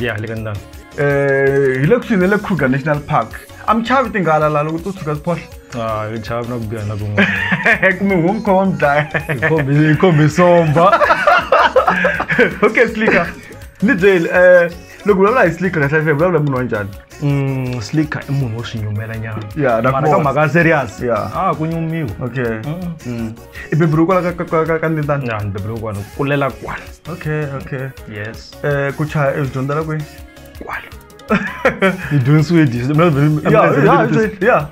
Yeah, le ka ndhawu. Eh, hi le kusuhi na le Kruger National Park. A mi chavi tinghala la loko to tshuka siphohla. Ah, hi chavi na ku biha na kun'wana. Kumbe wo mi khoma wa mi dlaya. Hi khombe hi khombe somba. Okay, Slicker. Ni byeli, eh, loko u vulavula hi Slicker kahle kahle, u vulavula hi munhu wa njhani? Mm, Slicker i munhu wo swi nyumela nyana. Yeah, na Mara ka kona. mhaka ya serious. Yeah. Ah, ku nyumiwa. Okay. Mm. I beburiwe kwala ka- ka- ka- ka- ka Ndindani? Na ni beburiwe kwala, ku kulela kwala. Okay, okay. Yes. eh, ku chaya i dyondzela kwihi kwalo i dyondzisiwe dix- mina veri- Ya, mina veri- ya, veri- it's a- ya.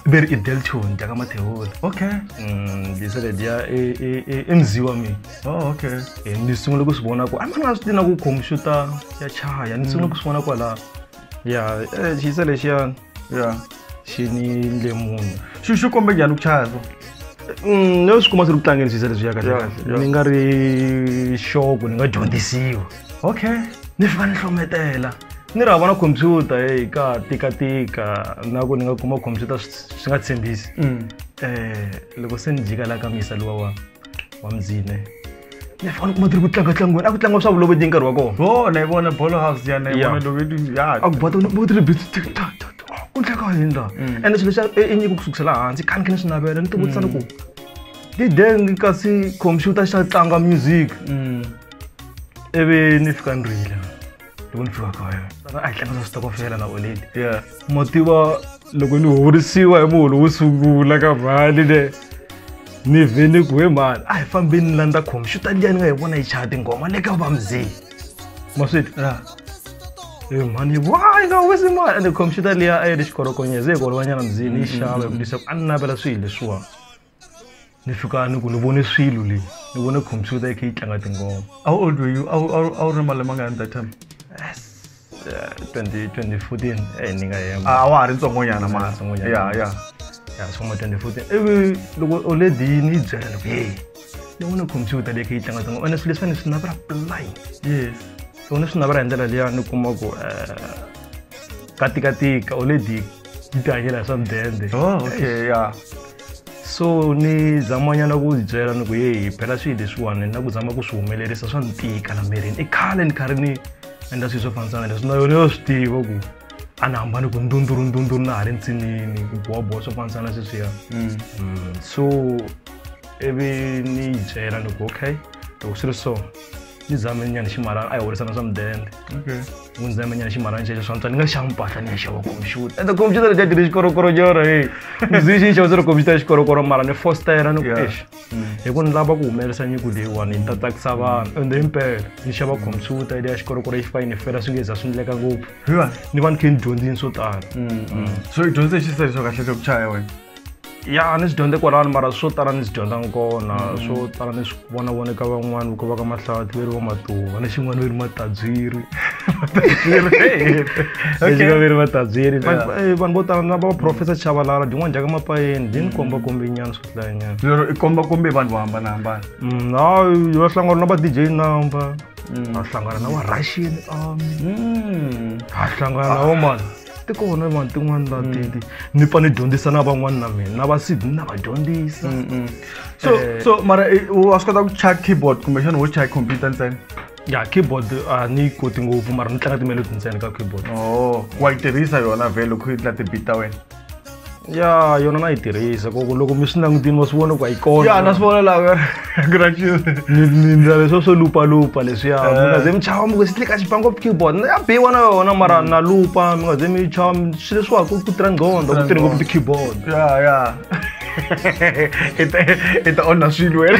veri i delton dya ka mathewula okay Mm, disa lediya i- i- i- i mzi wa mina oh okay Eh, ni sungule ku swi vona ku a ni nga swi tina ku khompyuta ya chaya ni sungule ku swi vona kwalaho ya eh, xisa lexiyani ya xi ni ndle munhu xi xi kombe njhani ku chaya so Mm, no swi kuma swi ri ku tlangeni swisa leswiya kahle Yeah, kahle yeah. ni nga ri xoko ni nga dyondzisiwa okay ni fika ni hlometela ni ri hava na khompyuta e ka tikatika na ku ni nga kuma khompyuta swi swi nga tshembisi Mm. um loko se ni jika la ka misa luwa wa wa mzine ne fa le kumatiri ku tlanga tlanga wena a ku tlanga swa vulovo ndi nkarhi wa kona bo na yi vona bolo house ya na yi vona loko yi ya a ku bota ni bota bit ta ta ta ku tlanga hi ndla and swilo swa e nyiko ku sukusela hansi kani kene swinavela ni ti vutisa ni ku ti deng kasi computer xa tlanga music ivi ni fika ni rila ni vona fika ka yona a hi tlangisa switokofela la oleli ya ma tiva loko ni horisiwa hi muholo wo sungula ka mali le ni vhe ni ku he mali a hi fambeni ni landza khompyuta liya ni nga hi vona yi chaya tinghoma le ka va mzee ma swi twa e mhani yi wa yi nga wisi mali ende khompyuta liya a yi ri xikorokonyeza yi hi ku olovanyana mzini yi xava hi ku lisa ku a ni navela swilo leswiwani ni suka ni ku ni vone swilo leyi ni vone computer yi kha yi tlanga tinghoma how old were you a wu ri malembe angani that time 2014 eh ni nga yema a wa ha ri ntsongonyana mara ya ya ya swin'we 2014 ivi loko o le dini yi byela loko ye ni vone computer leyi kha yi tlanga tinghoma ene swilo leswi fane swi navela play yes so ni swi navela hi ndlela liya ni kuma ku katikatika o le di yi tihanyela hi swa mudende oh okay ya so ni zamanyana ku ndzi byela ni ku yehi phela swilo leswiwani na ku zama ku swi humelerisa swa ni tika la mirini i khale ni karhi ni endla swilo swo fambisana leswi na yona yo swi tiva ku a ni hambani ku ndunduru ndunduru na ha ri ntsinini ku bowabowa swo fambisana sweswiya mm. mm, so ivi ni yi byela ni ku okay loko swi ri so ni zame nyana ximalana a hi horisana swa mudende mundzi na mina na ximalana xexo swa ntswa ni nga xava mpahla ni ya xava computer ende computer leti a ti ri xikorokoro xona e ndzi xi xava se ri computer ya xikorokoro mara ni fostera ni ku Yeah. exi hi ku ni lava ku humelerisa nyiko leyiwani ni ta tsakisa vanhu ende impela ni xava computer leya xikorokoro yi fika yi ni fela swi nge za swi ndleka ngopfu Hi wani? ni va ni khe ni dyondzini swo tala so i dyondze hi xiseriso kahle xa ku chaya wena ya a ni swi dyondze kwalano mara swo tala ni swi dyondza kona mm. swo tala ni swi vona vona ka van'wani ku va ka mahlavatli veri va matuva ni xin'wana veri matadziri vatadziri veri vatadziri eh, vanhu vo tala na va professor chavalala dyin'wana dyaka mapayeni byi ni komba kombe nyana swi hlaya nyana lero i komba kombe vanhu vo hambanahambana mm, hayi va hlangana na va dj number mm. va hlangana na va russian army va hlangana na vo mani ti kona vanhu tin'wana ta mm. titi ni pfa ni dyondzisa na van'wana na mina na va sid ni na va dyondzisa mm, mm. so eh. so mara eh, wa swi kota ku chaya keyboard kumbexana wo chaya computer ntsena ya keyboard a ah, ni koti ngopfu mara ni tlanga timelodi ntsena ka keyboard o oh, wa yi tirhisa yona vhele loko yi tla ti-beat ta wena ya yona na yi tirhisa koko loko mi swi langutini va swi vona ku a yi kona ya na swi vona laha nindlela leswo swo lupalupa leswiya mi nga ze mi chava mi ku si tlika xipango keyboard na ya biwa na yona mara na lupa mi nga ze mi chava swi leswiwa ku ku tirha nqondo ku tirhi ngopfu ti-keyboard ya ya i ta onha swilo wena